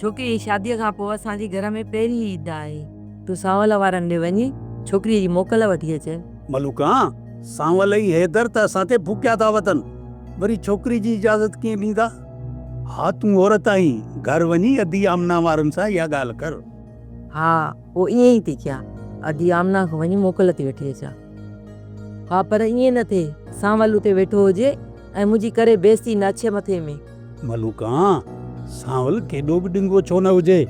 ڇوڪري جي شاديء کان پوء اسان جي گهر ۾ پهرين عيد آهي. تون سانول وارن ڏي وڃي ڇوڪريء جي موڪل وٺي اچ. ملوڪا، سانول ۽ حيدر ته اسان تي ڦوڪيا ٿا وتن، وري ڇوڪري جي اجازت ڪيئن ڏيندا؟ ها تون عورت آهين، گهر وڃي ادي آمنا وارن سان اها ڳالهه ڪر. ها، هو ائين ئي ٿي ڪيا. ادي آمنه کي وڃي موڪل ٿي وٺي اچان. ها، پر ائين نه ٿئي. سانول اتي ويٺو هجي ۽ منهنجي ڪري بيستي نه اڇي مٿي ۾. ملوڪان، سانول ڪيڏو به ڊنگو ڇو نه هجي،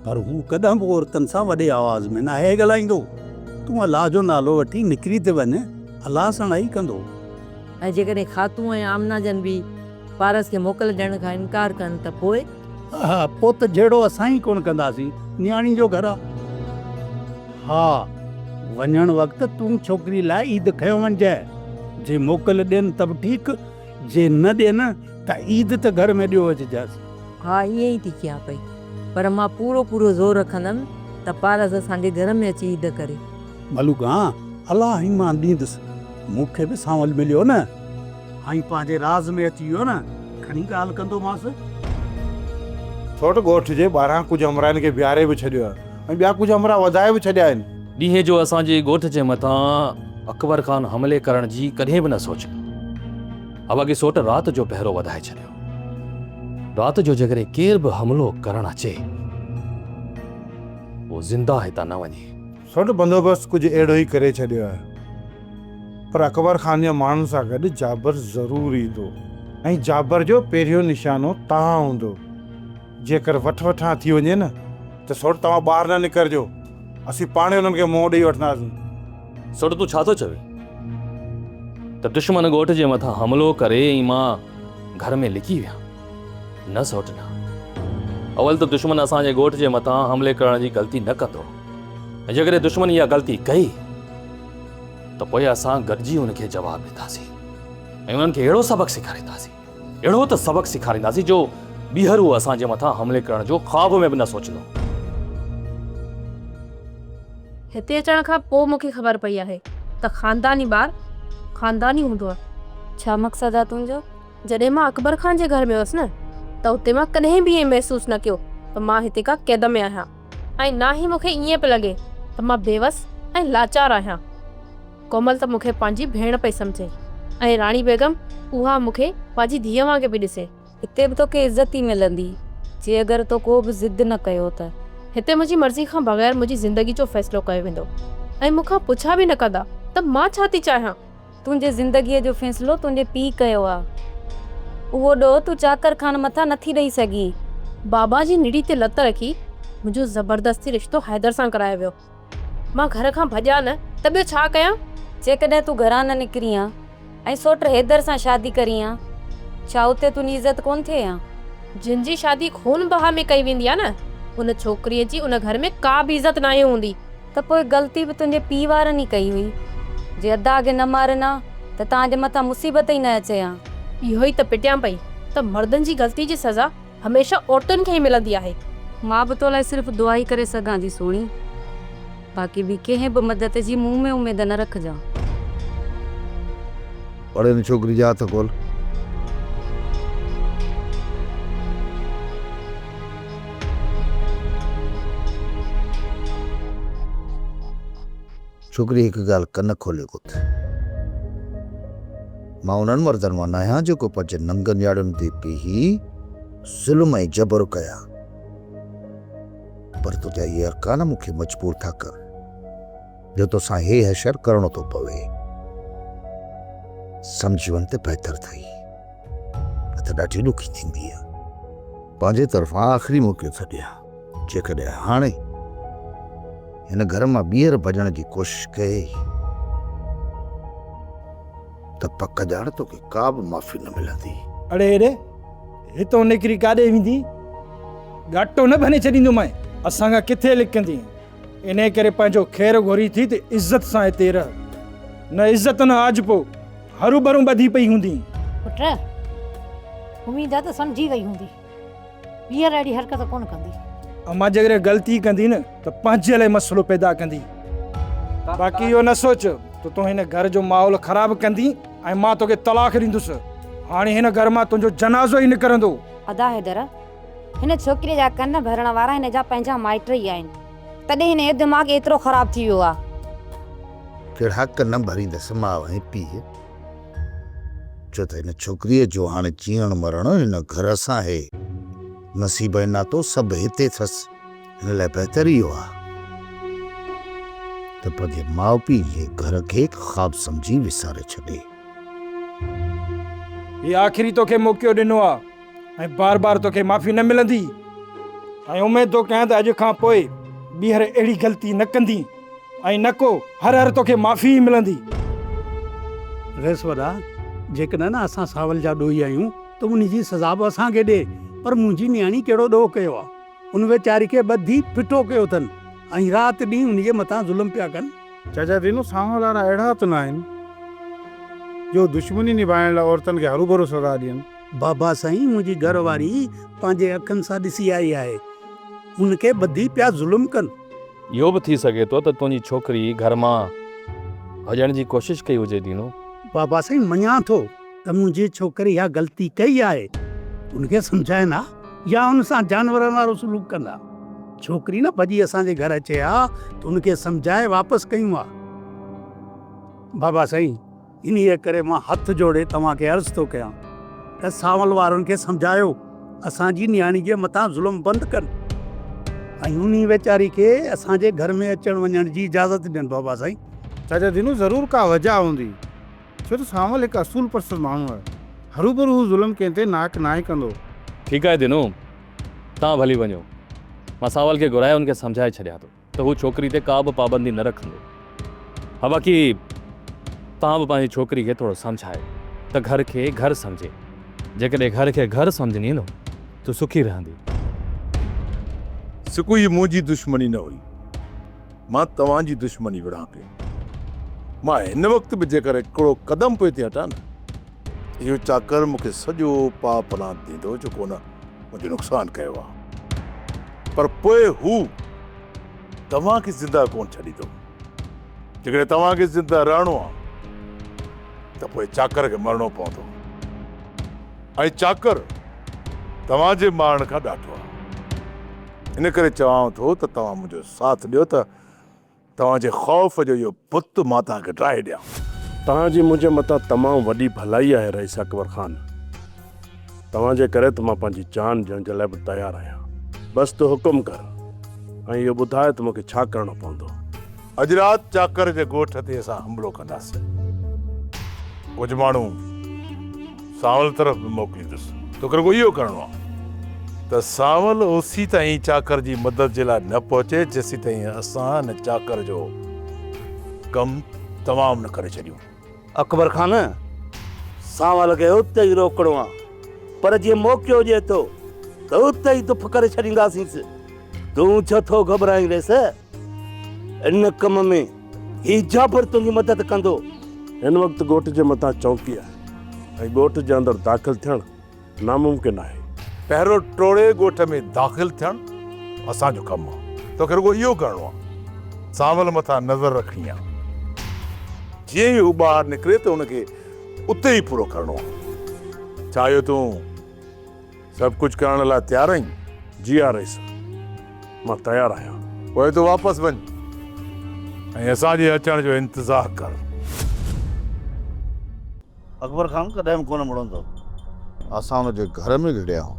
پر هو ڪڏهن به عورتن سان وڏي آواز ۾ ناهي ڳالهائيندو. تون الله جو نالو وٺي نڪري ته وڃ، الله سڻائي ڪندو. ۽ جيڪڏهن خاتون ۽ آمنه جن به پارس کي موڪل ڏيڻ کان انڪار ڪن ته پوء؟ ها پوت جهيڙو اسان ئي ڪونه ڪنداسين نياڻي جو گهر آ. ها وڃڻ وقت تون ڇوڪري لاء عيد کنيو وڃجانء جي موڪل ڏين ته به ٺيڪ جي نه ڏين ته عيد ته گهر ۾ ڏيو اچجانس. ها ائين ئي ٿي ڪيان پئي پر مان پورو پورو زور رکندم ته پارس اسان جي گهر ۾ اچي عيد ڪري. ملوڪ ها الله ايمان ڏيندس مون کي به سانول مليو نه. آئين پنهنجي راز ۾ اچي ويو نه کڻي ڳالهه ڪندومانس. سوٽ ڳوٺ جي ٻاهران ڪجهه همراهين کي بيهاري به ڇڏيو آهي ۽ ٻيا ڪجهه همراهه وڌائي به ڇڏيا آهن. ڏينهن جو اسان جي ڳوٺ جي مٿان اڪبر خان حملي ڪرڻ جي ڪڏهن به نه سوچيو هو اڳي سوٽ رات جو پهرو وڌائي ڇڏيو رات جو جيڪڏهن ڪير به حملو ڪرڻ اچي اهو زنده هتان نه وڃي. سوٽ بندوبست ڪجهه اهڙو ئي ڪري ڇڏيو آهي. پر اڪبر خان جي ماڻهن سان گڏ جابر ضرور ايندو ۽ جابر جو پهريون نشانو توهان هوندو. جيڪر وٺ وٺان ٿي وڃي نه ته سوٽ توهان ٻاهر نه نڪرجو. اسين پاڻ ئي انهن کي منهن ڏيئي وٺنداسين. سوٽ تون ڇا ٿو چوين ته دشمن ڳوٺ جي مٿان حملو ڪري ۽ مان گهر ۾ لڪي ويهان. نه سوٽ نه. اول ته دشمن اسان جي ڳوٺ جي مٿان حملي ڪرڻ جي غلطي نه ڪندو ۽ جيڪڏهن دشمن اها غلطي ڪئي ته پوء اسان گڏجي ان کي جواب ڏينداسين ۽ انهن کي اهڙو سبق سيکارينداسين، اهڙو ته سبق سيکارينداسين جو ٻيهر هو اسان جي مٿان حملي ڪرڻ جو خواب ۾ به نه سوچندو. هتي اچڻ کان پوء مون کي خبر پئي آهي ته خانداني ٻار خانداني هوندو آهي. ڇا مقصد آهي تنهنجو؟ جڏهن مان اڪبر خان جي گهر ۾ هيس نه ته اتي مان ڪڏهن به ائين محسوس نه ڪيو ته مان هتي ڪا قيد ۾ آهيان ۽ نه ئي مون کي ائين پئي لڳي ته مان بيوس ۽ لاچار آهيان. ڪومل ته مون کي پنهنجي ڀيڻ پئي سمجهي ۽ راڻي بيگم اها مون کي پنهنجي ڌيء وانگي پئي ڏسي. هتي به توکي عزت ئي ملندي جي اگر تو ڪو به ضد نه ڪيو ته. هتي منهنجي مرضي کان بغير منهنجي زندگي جو فيصلو ڪيو ويندو ۽ مون کان پڇا به نه ڪندا ته مان ڇا ٿي چاهيان. تنهنجي زندگيء جو فيصلو تنهنجي پيء ڪيو آ. اهو ڏوهه تون چاڪر خان مٿان نٿي ڏئي سگهين. بابا جي نڙي تي لت رکي منهنجو زبردستي رشتو حيدر سان ڪرايو ويو. مان گهر کان ڀڄان نه ته ٻيو ڇا ڪيان؟ جيڪڏهن تون گهران نه نڪرين ها ۽ سوٽ حيدر سان شادي ڪرين ها، ڇا اتي تنهنجي عزت ڪونه ٿئي ها؟ جنهن جي شادي خون بها ۾ ڪئي ويندي آ نه، ان ڇوڪريء جي ان گهر ۾ ڪا به عزت ناهي هوندي. ته پوء غلطي به تنهنجي پيء وارن ئي ڪئي هئي. جي ادا کي نه مارين ها ته توهان جي مٿان مصيبت ئي نه اچي ها. اهو ئي ته پٽيان پئي ته مردن جي غلطي جي سزا هميشه عورتن کي ئي ملندي آهي. مان به تو لاء صرف دعا ئي ڪري سگهان ٿي سهڻي. باقي ٻي ڪنهن به مدد جي مون ۾ اميد نه رکجان. پڙهه ان ڇوڪري جا هٿ کول. ڇوڪري هڪ ڳالهه ڪن کولي ٻڌ. مان انهن مردن مان ناهيان جيڪو پنهنجي ننگن نياڻين تي بيهي ظلم ۽ جبر ڪيا. پر تنهنجا اهي ارڪان مون کي مجبور ٿا ڪن. جو توسان هي حشر ڪرڻو ٿو پوي. سمجهي وڃ ته بهتر اٿئي، نه ته ڏاڍي ڏکي ٿينديء. پنهنجي طرفان آخري موڪلي ٿو ڏيان، جيڪڏهن هاڻي هن گهر مان ٻيهر ڀڄڻ جي ڪوشش ڪيئي ته پڪ ڄاڻ توکي ڪابه معافي نه ملندي. اڙي اڙي، هتئون نڪري ڪاڏي ويندين؟ ڳاٽو نه ڀني ڇڏيندومانء، اسان کان ڪٿي لڪندين؟ انهيء ڪري پنهنجو خير گهرين ٿي ته عزت سان هتي رهه. نه عزت نه آجپو، هروڀرو ٻڌي پئي هوندين. پٽ! اميد آهي ته سمجهي وئي هوندين. ٻيهر اهڙي حرڪت ڪونه ڪندين. امان جيڪڏهن غلطي ڪندين نه ته پنهنجي لاء مسئلو پيدا ڪندين. باقي اهو نه سوچ ته تون هن گهر جو ماحول خراب ڪندين ۽ مان توکي طلاق ڏيندس. هاڻي هن گهر مان تنهنجو جنازو ئي نڪرندو. ادا حيدر! هن ڇوڪريء جا ڪن ڀرڻ وارا هن جا پنهنجا مائٽ ئي آهن، تڏهن هن جو دماغ ايترو خراب ٿي ويو آ. ڪهڙا ڪن ڀريندس ماء ۽ پيء، ڇو ته هن ڇوڪريء جو هاڻي جيئڻ مرڻ هن گهر سان هي. نصيب ۽ ناتو سڀ هتي اٿس، هن لاء بهتر اهو آ ته پنهنجي ماء پيء جي گهر کي هڪ خواب سمجهي وساري ڇڏي. هي آخري توکي موقعو ڏنو آ. ۽ بار بار توکي معافي نه ملندي ۽ اميد ٿو ڪيان ته اڄ کان پوء ٻيهر اهڙي غلطي نه ڪندي ۽ نه ڪو هر هر توکي معافي ئي ملندي. رئيس وڏا، جيڪڏهن نه اسان ساول جا ڏوهي آهيون ته ان جي سزا به اسان کي ڏي، پر منهنجي نياڻي ڪهڙو ڏوهه ڪيو آهي، ان ويچاري کي ٻڌي ڦٺو ڪيو اٿن ۽ رات ڏينهن ان جي مٿان ظلم پيا ڪن. چاچا دينو، سانول وارا اهڙا ته نه آهن جو دشمني نڀائڻ لاء عورتن کي هروڀرو سزا ڏين. بابا سائين منهنجي گهر واري پنهنجي اکن سان ڏسي آئي آهي ان کي ٻڌي پيا ظلم ڪن. اهو به ٿي سگهي ٿو ته تنهنجي ڇوڪري گهر مان ڀڄڻ جي ڪوشش ڪئي هجي دينو. بابا سائين مڃان ٿو ته منهنجي ڇوڪري اها غلطي ڪئي آهي ان کي سمجهائين ها يا ان سان جانورن وارو سلوڪ ڪن ها ڇوڪري نه ڀڄي اسان جي گهر اچي ها ته ان کي سمجهائي واپس ڪيون ها بابا سائين. انهيء ڪري مان هٿ جوڙي توهان کي عرض ٿو ڪيان ته سانول وارن کي سمجهايو اسان جي نياڻي جي مٿان ظلم بند ڪن ۽ انهيء ويچاري کي اسان جي گهر ۾ اچڻ وڃڻ جي اجازت ڏين بابا سائين. چاچا دينو ضرور ڪا وجهه هوندي، ڇو ته سانول هڪ اصول پرست ماڻهو آهي، هروڀرو هو ظلم ڪنهن تي ناحق ناهي ڪندو. ٺيڪ آهي دينو، توهان ڀلي وڃو، مان سانول کي گهرائي هن کي سمجهائي ڇڏيان ٿو. ته هو ڇوڪري تي ڪا به پابندي نه رکندو ها باقي توهان به پنهنجي ڇوڪري کي ٿورو سمجهايو ته گهر کي گهر سمجهي جيڪڏهن گهر کي گهر سمجهندي نه ته سکي رهندي. سڪو هي منهنجي دشمني نه هئي مان توهان جي دشمني وڙهان پيو مان هن وقت به جيڪر هڪڙو قدم پوئتي هٽان نه اهو چاڪر مون کي سڄو پاء پلان ڏيندو جو ڪونه منهنجو نقصان ڪيو آ پر پوء هو توهان کي زنده ڪونه ڇڏيندو. جيڪڏهن توهان کي زنده رهڻو آ ته پوء چاڪر کي مرڻو پوندو ۽ چاڪر توهان جي مارڻ کان ڏاڍو آ. ان ڪري چوانو ٿو ته توهان منهنجو ساٿ ڏيو ته توهان جي خوف جو اهو بت مان توهان کي ڊاهي ڏيان. توهان جي منهنجي متان تمام وڏي ڀلائي آهي رئيس اڪبر خان. توهان جي ڪري ته مان پنهنجي جان ڏيڻ جي لاء به تيار آهيان. بس تو حڪم ڪر ۽ اهو ٻڌاء ته مون کي ڇا ڪرڻو پوندو. اڄ رات چاڪر جي ڳوٺ تي اسان حملو ڪنداسين. ڪجهه ماڻهو. سانول طرف به موڪليندس. توکي رڳو اهو ڪرڻو آهي ته سانول اوسين تائين چاڪر جي مدد جي لاء نه پهچي جيسين تائين اسان هن چاڪر جو ڪم تمام نه ڪري ڇڏيون. اڪبر خان، سانول کي اتي ئي روڪڻو آهي پر جي موقعو ڏئي ٿو ته اتي ئي دڦ ڪري ڇڏينداسينس. تون ڇو ٿو گهٻرائين ويس؟ ان ڪم ۾. هي جابر تنهنجي مدد ڪندو. هن وقت ڳوٺ جي مٿان چونڪي آهي ۽ ڳوٺ جي اندر داخل ٿيڻ ناممڪن آهي. پهرو ٽوڙي ڳوٺ ۾ داخل ٿيڻ اسان جو ڪم آهي. توکي رڳو اهو ڪرڻو آهي. سانول مٿان نظر رکڻي آهي. جيئن ئي هو ٻاهر نڪري ته هن کي اتي ئي پورو ڪرڻو آهي. ڇا اهو تون. سڀ ڪجهه ڪرڻ لاء تيار آهين؟ جي ها رئيس، مان تيار آهيان. پوء تون واپس وڃ ۽ اسان جي اچڻ جو انتظار ڪر. اڪبر خان ڪڏهن به ڪونه مڙندو. اسان هن جي گهر ۾ گهڙيا آهيون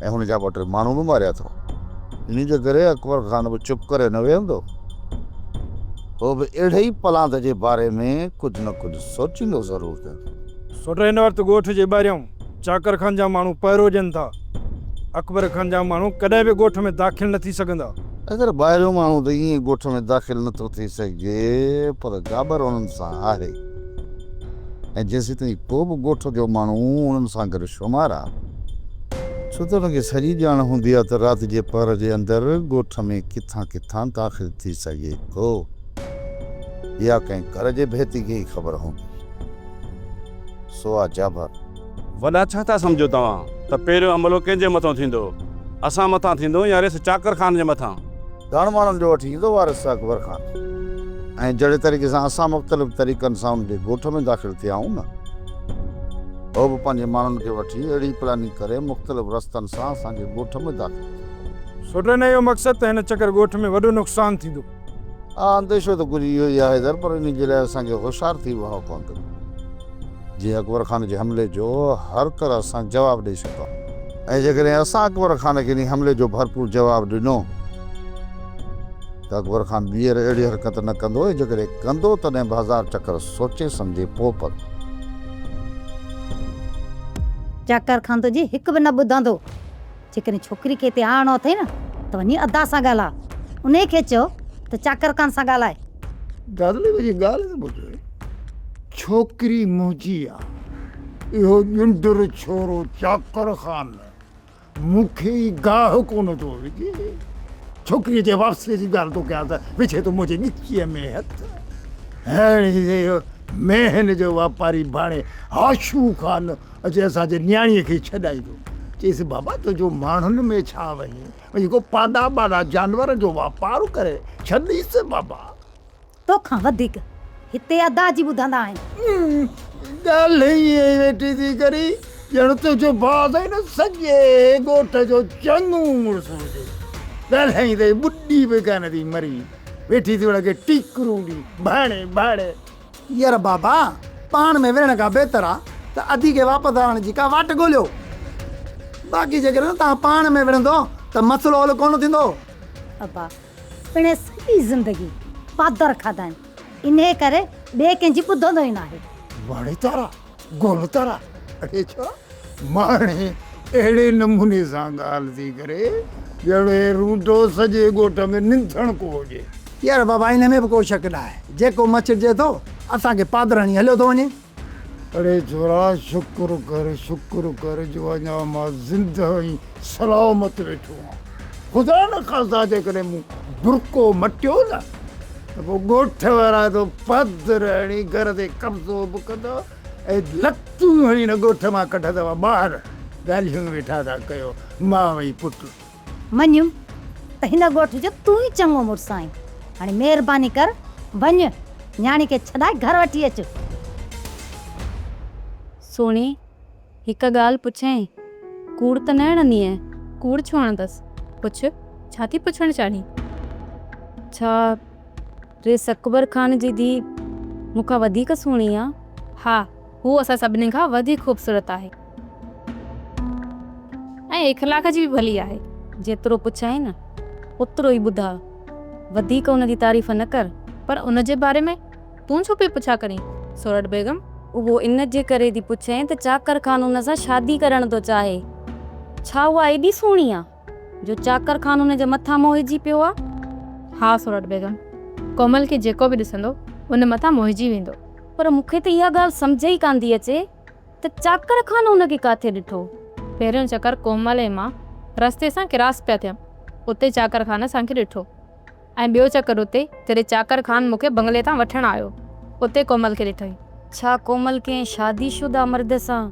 ۽ هن جا ٻه ٽي ماڻهو به ماريا اٿئون. انهيء جي ڪري اڪبر خان به چپ ڪري نه ويهندو. هو به اهڙي ئي پلاند جي باري ۾ ڪجهه نه ڪجهه سوچيندو ضرور ويهندو. سوٽ هن وقت ڳوٺ جي ٻاهريان چاڪر خان جا ماڻهو پهرو ڏين ٿا. اڪبر خان جا ماڻهو ڪڏهن به ڳوٺ ۾ داخل نه ٿي سگهندا. اگر ٻاهريون ماڻهو ته ائين ڳوٺ ۾ داخل نه ٿو ٿي سگهجي پر گابر انهن سان آهي ۽ جيسيتائين ڪو به ڳوٺ جو ماڻهو انهن سان گڏ شمار آ ڇو ته ان کي سڄي ڄاڻ هوندي آ ته رات جي پهر جي اندر ڳوٺ ۾ ڪٿان ڪٿان داخل ٿي سگهي ٿو. يا ڪنهن گهر جي ڀيتي کي ئي خبر هوندي. سو آ جا ڀر. وڏا ڇا ٿا سمجهو توهان ته پهريون حملو ڪنهن جي مٿان ٿيندو اسان مٿان ٿيندو يا ريس چاڪر خان جي مٿان. ڳڻ ماڻهن جو وٺي ايندو وارث اڪبر خان ۽ جهڙي طريقي سان اسان مختلف طريقن سان ان جي ڳوٺ ۾ داخل ٿيا آهيون نه هو به پنهنجي ماڻهن کي وٺي اهڙي پلاننگ ڪري مختلف رستن سان اسان جي ڳوٺ ۾ داخل ٿيو. سوڍن اهو مقصد ته هن چڪر ڳوٺ ۾ وڏو نقصان ٿيندو. ها انديشو ته ڪجهه اهو ئي آهي حيدر، پر انهي جي لاء اسان کي هوشيار ٿي وهڻو پوندو، جيئن اڪبر خان جي حملي جو هر طرح سان جواب ڏئي سگهون. ۽ جيڪڏهن اسان اڪبر خان کي انهي حملي جو ڀرپور جواب ڏنو ته اڪبر خان ٻيهر اهڙي حرڪت نه ڪندو ۽ جيڪڏهن ڪندو تڏهن به هزار چڪر سوچي سمجهي پوء پندو. چڪر کندو جي هڪ به نه ٻڌندو. جيڪڏهن ڇوڪري کي هتي آڻڻو اٿئي نه ته وڃي ادا سان ڳالهاء. انهيء کي چئو ته چاڪر خان سان ڳالهائي. دادلي وڃي ڳالهه ته ٻڌ. ڇوڪري منهنجي آ. اهو ڄنڊر ڇورو چاڪر خان مون کي ئي گاهه ڪونه ٿو وجهي. ڇوڪريء جي واپسيء جي ڳالهه ٿو ڪيان ته وجهي ٿو منهنجي ڳچيء ۾ هٿ. هيڻ هي ميهن جو واپاري ڀاڻي هاشو خان اچي اسان جي نياڻيء کي ڇڏائيندو. چيس بابا تنهنجو ماڻهن ۾ ڇا وڃي، وڃي ڪو پادا ٻادا جانورن جو واپار ڪري ڇڏيس بابا. توکان وڌيڪ هتي ادا جي ٻڌندا آهن. ڳالهه ئي ائين ويٺي ٿي ڪرين ڄڻ تنهنجو ڀاء اٿئي نه سڄي ڳوٺ جو چڱو مڙس هجي. ڳالهائيندي ٻڏي به ڪانه ٿي مري ويٺي ٿي ان کي ٽيڪرون ڏئي ڀاڻي ڀاڻي. ير بابا پاڻ ۾ وڙهڻ کان بهتر آ ته ادي کي واپس آڻڻ جي ڪا واٽ ڳوليو. باقي جيڪڏهن توهان پاڻ ۾ وڙهندو ته مسئلو حل ڪونه ٿيندو. ابا پڻهين سڄي زندگي پادر کاڌائين انهي ڪري ٻئي ڪنهن جي ٻڌندو ئي ناهي. واڙيچارا! گل تارا اڙي ڇا ماڻهي اهڙي نموني سان ڳالهه ٿي ڪري ڄڻ هي روڊو سڄي ڳوٺ ۾ ننڌڻڪو هجي. يار بابا ان ۾ به ڪو شڪ نه آهي جيڪو مچڙجي ٿو اسان کي پادراڻي هليو ٿو وڃي. اڙي ڇورا شڪر ڪر شڪر ڪر جو اڃا مان زندهه ۽ سلامت ويٺو هان. خدا نخواسته جيڪڏهن مون برقعو مٽيو نه ته پوء ڳوٺ وارا تو پڌر هڻي گهر تي قبضو به ڪندا ۽ لتون هڻي هن ڳوٺ مان ڪڍندا توهان ٻاهر ڳالهيون ويٺا ٿا ڪيو ماء ۽ پٽ. مڃيم ته هن ڳوٺ جو تون ئي چڱو مڙس آهين. هاڻي مهرباني ڪر وڃ نياڻي کي ڇڏائي گهر وٺي اچ. سهڻي هڪ ڳالهه پڇيائين، ڪوڙ ته نه هڻندينء؟ ڪوڙ ڇو هڻندس؟ پڇ، ڇا ٿي پڇڻ چاهين؟ ڇا ريس اڪبر خان جي ڌيء مون کان وڌيڪ سهڻي آ؟ ها، هوء اسان سڀني کان وڌيڪ خوبصورت آهي ۽ اخلاق جي به ڀلي آهي. جيترو پڇيائين، اوترو ئي ٻڌاء. وڌيڪ ان جي تعريف نه ڪر. پر ان جي باري ۾؟ تون ڇو پئي پڇا ڪرين سورٺ بيگم؟ اهو ان جي ڪري ٿي پڇين ته چاڪر خان ان سان شادي ڪرڻ ٿو چاهي. ڇا اها ايڏي سهڻي آ جو چاڪر خان ان جي مٿان موهجي پيو آ؟ ها سورٺ بيگم، ڪومل کي جيڪو به ڏسندو ان مٿان موهجي ويندو. پر مون کي ته اها ڳالهه سمجهه ئي ڪانه ٿي اچي ته چاڪر خان ان کي ڪاٿي ڏٺو؟ پهريون چڪر ڪومل ۽ مان رستي سان ڪراس پيا ٿيم اتي چاڪر خان اسان کي ڏٺو. ۽ ٻيو چڪر اتي، جڏهن چاڪر خان مون کي بنگلي تان وٺڻ آيو، اتي ڪومل کي ڏٺئي. ڇا ڪومل ڪنهن شادي شده مرد سان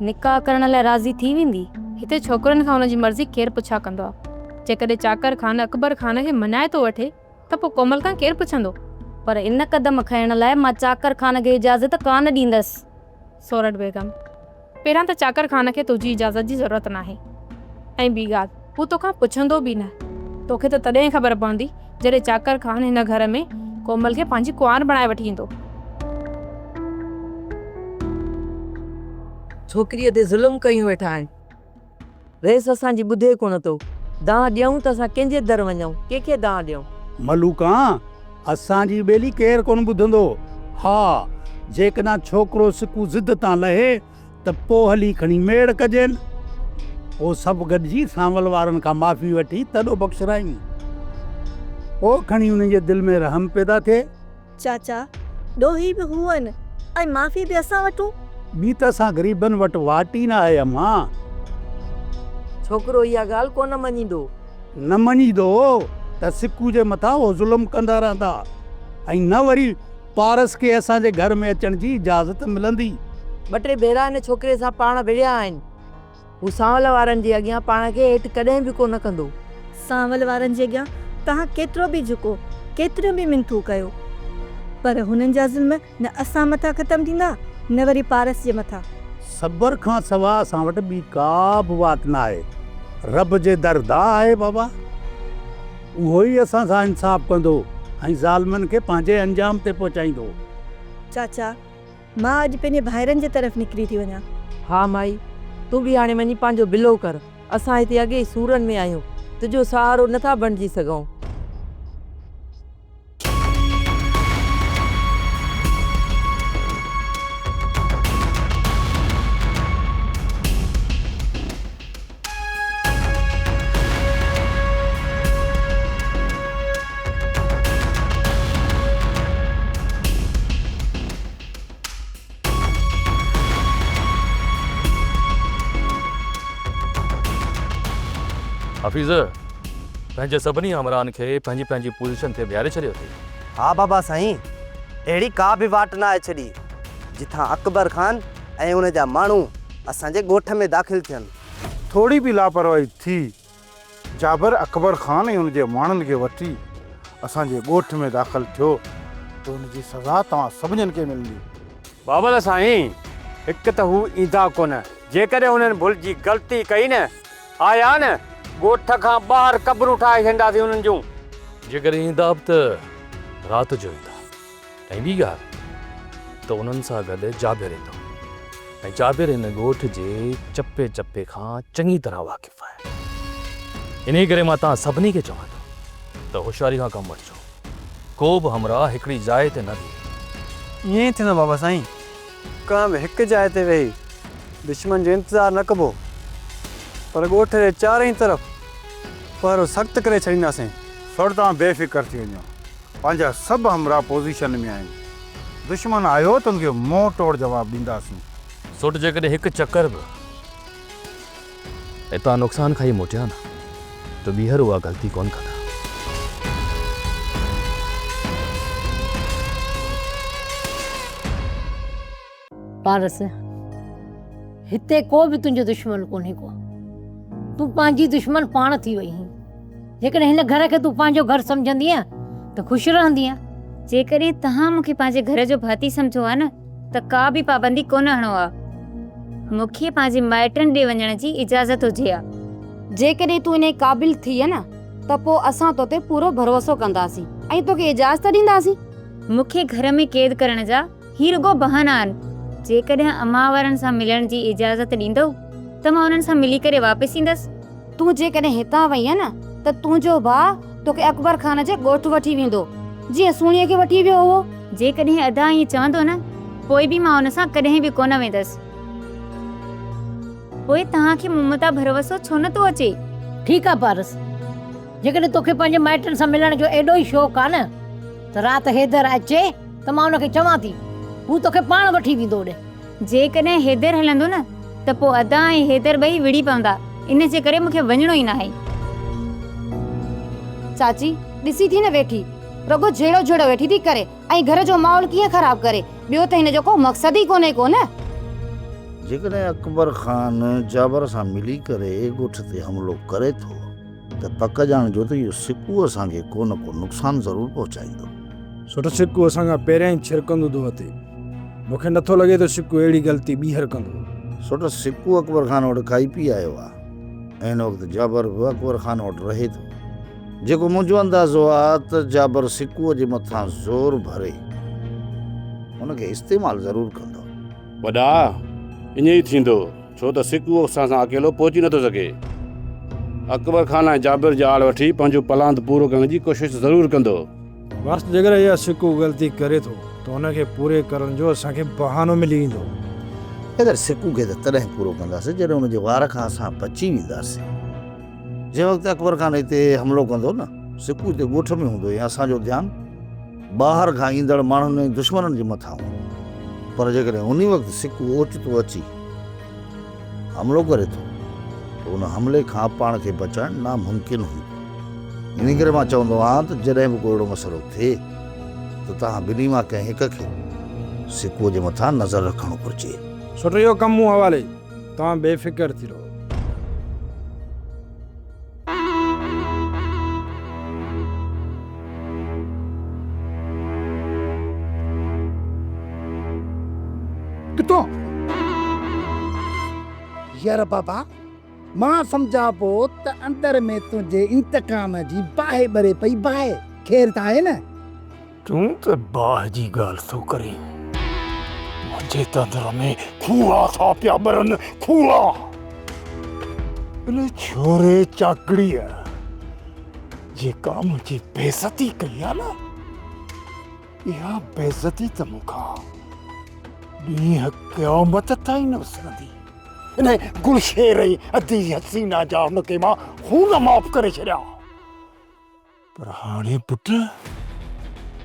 نڪاح ڪرڻ لاء راضي ٿي ويندي؟ هتي ڇوڪرن کان ان جي مرضي ڪير پڇا ڪندو آ؟ جيڪڏهن چاڪر خان اڪبر خان کي مڃائي ٿو وٺي، ته پوء ڪومل کان ڪير پڇندو؟ پر ان قدم کڻڻ لاء مان چاڪر خان کي اجازت ڪانه ڏيندس. سورٺ بيگم، پهريان ته چاڪر خان کي تنهنجي اجازت جي ضرورت ناهي ۽ ٻي ڳالهه هو توکان پڇندو به نه. توکي ته تڏهن ئي خبر پوندي جڏهن چاڪر خان هن گهر ۾ ڪومل کي پنهنجي ڪنوار بڻائي وٺي ايندو. ڇوڪريء تي ظلم ڪيون ويٺا آهن. رئيس اسان جي ٻڌي ڪونه ٿو. دانهن ڏيئون ته اسان ڪنهن جي در وڃئون، ڪنهن کي دانهن ڏيئون. ملوڪان اسان جي ٻيلي ڪير ڪونه ٻڌندو. ها! جيڪڏهن ڇوڪرو سڪو ضد تان لهي ته پوء هلي کڻي ميڙ ڪجين. پوء سڀ گڏجي سانول وارن کان معافي وٺي تڏو بخشرائين. پوء کڻي انهن جي دل ۾ رحم پيدا ٿئي. چاچا، ڏوهي به هو هن ۽ معافي به اسان وٽون؟ ٻي ته اسان غريبن وٽ واٽ ئي نه آهي امان. ڇوڪرو اها ڳالهه ڪونه مڃيندو. نه مڃيندو ته سڪو جي مٿان اهو ظلم ڪندا رهندا ۽ نه وري پارس کي اسان جي گهر ۾ اچڻ جي اجازت ملندي. ٻه ٽي ڀيرا هن ڇوڪري سان پاڻ وڙهيا آهن. هو سانول وارن جي اڳيان پاڻ کي هيٺ ڪڏهن به ڪو نه ڪندو. سانول وارن جي اڳيان توهان ڪيترو به جهڪو، ڪيتريون به منٿون ڪيو، پر هنن جا ظلم نه اسان مٿان ختم ٿيندا، نه وري پارس جي مٿان. صبر کان سوا اسان وٽ ٻي ڪا به واٽ نه آهي. رب جي در دعا آهي بابا. اهو ئي اسان سان انصاف ڪندو ۽ ظالمن کي پنهنجي انجام تي پهچائيندو. چاچا! مان اڄ پنهنجي ڀائرن جي طرف نڪري ٿي وڃان. ها مائي، تون به هاڻي وڃي پنهنجو بلو ڪر. اسان هتي اڳي ئي سورن ۾ آهيون. تنهنجو سهارو نه ٿا بڻجي سگهون. حفيظ پنهنجي سڀني آمران کي پنهنجي پنهنجي پوزيشن تي بيهاري ڇڏيو اٿئي. ها بابا سائين، اهڙي ڪا به واٽ ناهي ڇڏي، جتان اڪبر خان ۽ ان جا ماڻهو اسان جي ڳوٺ ۾ داخل ٿين. ٿوري به لاپرواهي ٿي، جابر اڪبر خان ۽ ان جي ماڻهن کي وٺي اسان جي ڳوٺ ۾ داخل ٿيو ته ان جي سزا توهان سڀنين کي ملندي. بابل سائين، هڪ ته هو ايندا ڪونه، جيڪڏهن انهن ڀل جي غلطي ڪئي نه، آيا نه، ڳوٺ کان ٻاهر قبرون ٺاهي ڇڏينداسين انهن جون. جيڪڏهن ايندا به ته رات جو ايندا. ۽ ٻي ڳالهه ته انهن سان گڏ جابر ايندو ۽ جابر هن ڳوٺ جي چپي چپي کان چڱي طرح واقف آهي. انهيء ڪري مان توهان سڀني کي چوان ٿو ته هوشياري کان ڪم وٺجو. ڪو به همراهه هڪڙي جاء تي نه بيهي. ائين ئي ٿيندو بابا سائين. ڪنهن به هڪ جاء تي ويهي دشمن جو انتظار نه ڪبو پر ڳوٺ جي چارئي طرف پهرو سخت ڪري ڇڏينداسين. سر توهان بي فڪر ٿي وڃو. پنهنجا سڀ همراهه پوزيشن ۾ آهن. دشمن آيو ته ان کي منهن ٽوڙ جواب ڏينداسين. سوٽ جيڪڏهن هڪ چڪر به هتان نقصان کائي موٽيا نه ته ٻيهر اها غلطي ڪونه ڪندا. پارس، هتي ڪو به تنهنجو دشمن ڪونهي ڪو. تون پنهنجي دشمن پاڻ ٿي وئي هين. جيڪڏهن هن گهر کي تون پنهنجو گهر سمجهندينء ته خوش رهندينء. جيڪڏهن توهان مون کي پنهنجي گهر جو ڀاتي سمجهو ها نه ته ڪا به پابندي ڪونه هڻو ها. مون کي پنهنجي مائٽن ڏي وڃڻ جي اجازت هجي ها. جيڪڏهن تون انهيء قابل ٿيئي نه ته پوء اسان تو تي پورو ڀروسو ڪنداسين ۽ توکي اجازت ڏينداسين. مون کي گهر ۾ قيد ڪرڻ جا هي رڳو بهانا آهن. جيڪڏهن امان وارن سان ملڻ جي اجازت ڏيندؤ ته مان انهن سان ملي ڪري واپس ايندس. تون جيڪڏهن هتان وئينء نه ته تنهنجو ڀاء توکي اڪبر خان جي ڳوٺ وٺي ويندو، جيئن سهڻيء کي وٺي ويو هئو. جيڪڏهن ادا ائين چوندو نه، پوء به مان ان سان ڪڏهن به ڪونه ويندس. پوء توهان کي مون متان ڀروسو ڇو نه ٿو اچي؟ ٺيڪ آهي پارس، جيڪڏهن توکي پنهنجي مائٽن سان ملڻ جو ايڏو ئي شوق آهي نه ته رات حيدر اچي. ته مان ان کي چوان ٿي، هو توکي پاڻ وٺي ويندو اوڏي. جيڪڏهن حيدر هلندو نه ته پوء ادا ۽ حيدر ٻئي وڙهي پوندا، ان جي ڪري مون کي وڃڻو ئي ناهي. چاچي، ڏسي ٿي نه ويٺي رڳو جهيڙو جهيڙو ويٺي ٿي ڪري ۽ گهر جو ماحول ڪيئن خراب ڪري، ٻيو ته هن جو ڪو مقصد ئي ڪونهي ڪو نه. جيڪڏهن اڪبر خان جابر سان ملي ڪري ڳوٺ تي حملو ڪري ٿو. ته پڪ ڄاڻجو ته اهو سڪو اسان کي ڪو نه ڪو نقصان ضرور پهچائيندو. ڇو ته سڪو اسان کان پهريان ئي ڇرڪندو ٿو اٿي. مون کي نٿو لڳي ته سڪو اهڙي غلطي ٻيهر ڪندو. ڇو ته سڪو اڪبر خان وٽ ڪائي پي آيو آ. هن وقت جابر به اڪبر خان وٽ رهي ٿو. جيڪو منهنجو اندازو آ ته جابر سڪوء جي مٿان زور ڀري ان کي استعمال ضرور ڪندو. وڏا، ائين ئي ٿيندو. ڇو ته سکو اسان سان اڪيلو پهچي نٿو سگهي. اڪبر خان ۽ جابر جي آڙ وٺي پنهنجو پلاند پورو ڪرڻ جي ڪوشش ضرور ڪندو. بس جيڪڏهن اها سکو غلطي ڪري ٿو ته ان کي پوري ڪرڻ جو اسان کي بهانو ملي ويندو. اگر سکو کي ته تڏهن پورو ڪنداسين جڏهن ان جي وار کان اسان بچي وينداسين. جنهن وقت اڪبر خان هتي حملو ڪندو نه سکو هتي ڳوٺ ۾ هوندو ۽ اسان جو ڌيان. ٻاهر کان ايندڙ ماڻهن ۽ دشمنن جي مٿان هو پر جيڪڏهن انهي وقت سڪو اوچتو اچي حملو ڪري ٿو ته ان حملي کان پاڻ کي بچائڻ ناممڪن هوندو انهي ڪري مان چوندو آهيان ته جڏهن به ڪو اهڙو مسئلو ٿئي ته توهان ٻنهي مان ڪنهن هڪ کي سڪو جي مٿان نظر رکڻ گهرجي. سٺو اهو ڪم مون حوالي توهان بي فڪر ٿي رهو. ڪتو، ير بابا، مان سمجهان پيو ته اندر ۾ تنهنجي انتقام جي باهه ٻري پئي باهه، خير ته آهي نه؟ تون ته باهه جي ڳالهه ٿو ڪرين، منهنجي تندر ۾ کوها ٿا پيا ٻرن، کوها! ان ڇوري چاڪڙيء جيڪا منهنجي بيعزتي ڪئي آ نه، اها بيعزتي ته مون کان ڏينهن قيامت تائين نه وسرندي. ان گلشير ۽ ادي حسينا جا ان کي مان خون معاف ڪري ڇڏيا. پر هاڻي پٽ،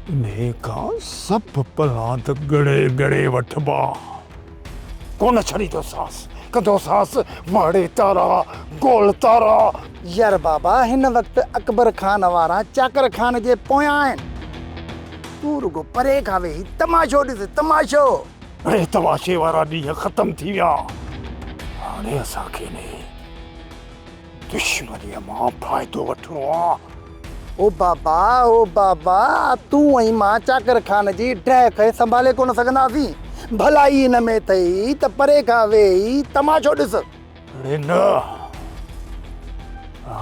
انهيء کان سڀ پلاند ڳڙي ڳڙي وٺبا. ڪونه ڇڏيندوسانس، ڪندوسانس مهڙي تارا، گول تارا. يار بابا، هن وقت اڪبر خان وارا چاڪر خان جي پويان آهن. تون رڳو پري کان ويهي تماشو ڏس، تماشو! اڙي تماشي وارا ڏينهن ختم ٿي ويا. هاڻي اسان کي انهيء دشمنيء مان فائدو وٺڻو آ. او بابا او بابا تون ۽ مان چاڪر خان جي ڊهه کي سنڀالي ڪونه سگهنداسين. ڀلائي ان ۾ اٿئي ته پري کان ويهي تماشو ڏس. اڙي نه!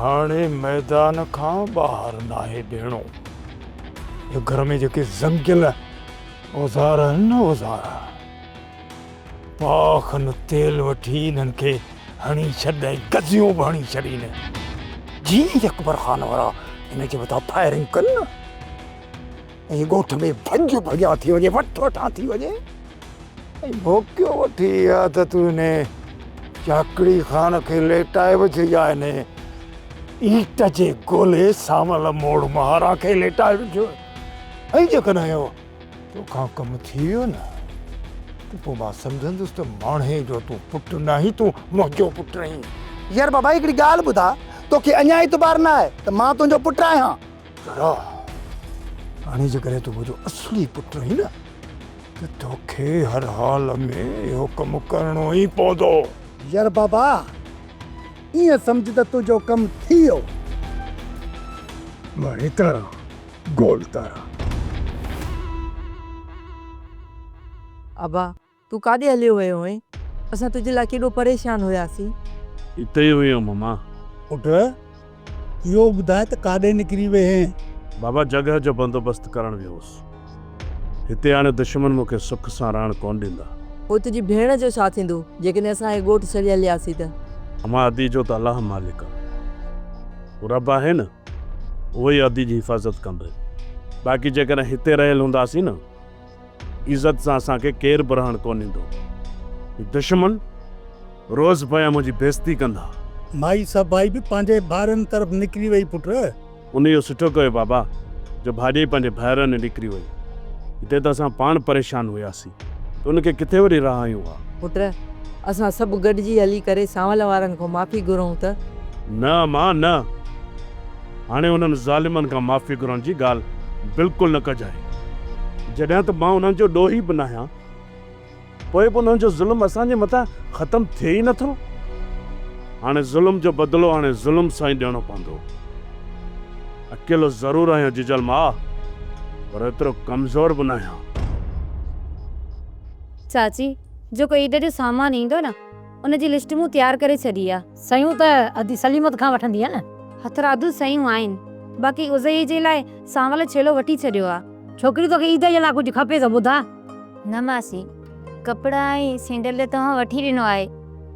هاڻي ميدان کان ٻاهر ناهي بيهڻو. هي گهر ۾ جيڪي زنگيل اوزار آهن نه اوزار. پاء کن تيل وٺي انهن کي هڻي ڇڏ ۽ گزيون به هڻي ڇڏ هن جي ئي اڪبر خان وارا هن جي مٿان فائرنگ ڪن نه ۽ ڳوٺ ۾ ڀڄ ڀڄا ٿي وڃي وٺ وٺان ٿي وڃي ۽ موقعو وٺي اها ته تون هن چاڪڙي خان کي ليٽائي به ڇي يا هن ايٽ جي گولي سانول موڙ مهارا کي ليٽائي به ڇو ۽ جيڪڏهن اهو توکان ڪم ٿي ويو نه ته پوء مان سمجهندس ته ماڻهي جو تون پٽ ناهين تون منهنجو پٽ آهين. يار بابا هڪڙي ڳالهه ٻڌاء توکي اڃا اعتبار نه آهي ته مان تنهنجو پٽ آهيان. ذرا هاڻي جيڪڏهن تون منهنجو اصلي پٽ آهين نه ته توکي هر حال ۾ اهو ڪم ڪرڻو ئي پوندو. يار بابا ائين سمجهه ته تنهنجو ڪم ٿي ويو. مان هتان گول تارا. ابا! تون ڪاڏي هليو ويو هئين؟ اسان تنهنجي لاء ڪيڏو پريشان هياسين. اتي ئي هيم مما. پٽ! اهو ٻڌاء ته ڪاڏي نڪري ويئين؟ بابا جڳهه جو بندوبست ڪرڻ ويو هوس. هتي آڻي دشمن مون کي سک سان رهڻ ڪونه ڏيندا. پوء تنهنجي ڀيڻ جو ڇا ٿيندو جيڪڏهن اسان کي ڳوٺ ڇڏي هلياسين ته؟ امان ادي جو ته الله مالڪ آ. هو رب آهي نه. اهو ئي عهدي جي حفاظت ڪندي. باقي جيڪڏهن هتي رهيل هونداسين نه، عزت سان اسان کي ڪير به رهڻ ڪونه ڏيندو. هي دشمن روز پيا منهنجي بيعزتي ڪندا. مائي صفائي به پنهنجي ڀائرن طرف نڪري وئي پٽ. ان اهو سٺو ڪيو بابا، جو ڀاڄائي پنهنجي ڀائرن ڏي نڪري وئي. هتي ته اسان پاڻ پريشان هياسي. تون کي ڪٿي وري رهايون ها. پٽ! اسان سڀ گڏجي هلي ڪري سانول وارن کان معافي گهرون ته. نه اما نه! هاڻي انهن ظالمن کان معافي گهرڻ جي ڳالهه بلڪل نه ڪجانء. جڏهن ته مان انهن جو ڏوهي به ناهيان، پوء به انهن جو ظلم اسان جي مٿان ختم ٿئي ئي نٿو. هاڻي ظلم جو بدلو هاڻي ظلم سان ئي ڏيڻو پوندو. اڪيلو ضرور آهيان جيجل ماء، پر ايترو ڪمزور به ناهيان. چاچي، جيڪو عيد جو سامان ايندو نه، ان جي لسٽ مون تيار ڪري ڇڏي آ. سيون ته ادي سليمت کان وٺندينء نه؟ هٿرادو سيون آهن، باقي اضحيي جي لاء سانول ڇيلو وٺي ڇڏيو آ. ڇوڪري توکي عيد جي لاء ڪجهه کپي ته ٻڌاء. نه ماسي، ڪپڙا ۽ سينڊل ته توهان وٺي ڏنو آهي،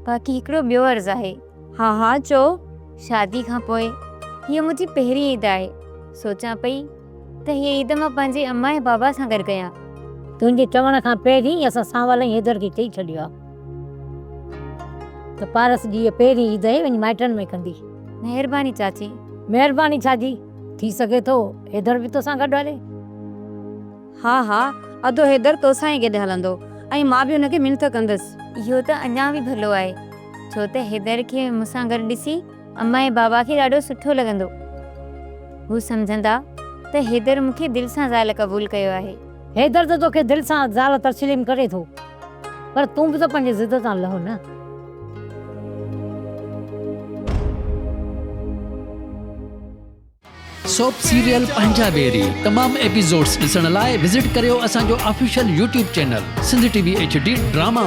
باقي هڪڙو ٻيو عرض آهي. ها ها چؤ. شادي کان پوء هيء منهنجي پهرين عيد آهي. سوچان پئي ته هيء عيد مان پنهنجي اما ۽ بابا سان گڏ ڪيان. تنهنجي چوڻ کان پهرين ئي اسان سانول ۽ حيدر کي چئي ڇڏيو آهي ته پارس جي هيء پهرين عيد آهي، وڃي مائٽن ۾ ڪندي. مهرباني چاچي. مهرباني ڇا جي، ٿي سگهي ٿو حيدر به توسان گڏ هلي. ها ها ادو حيدر توسان ئي گڏ هلندو ۽ مان به هن کي منٿ ڪندس. اهو ته اڃا به ڀلو آهي ڇو ته حيدر کي مون سان گڏ ڏسي امان ۽ بابا کي ڏاڍو سٺو لڳندو. هو سمجهندا ته حيدر مون کي دل سان زال قبول ڪيو آهي. حيدر ته توکي دل سان زال تسليم ڪري ٿو پر تون به ته پنهنجي ضد تان لهه نه. سوپ سيريل پنهنجا بيري تمام ايپيسوڊز ڏسڻ لاء وزٽ ڪريو اسان جو official YouTube channel Sindh T V H D drama.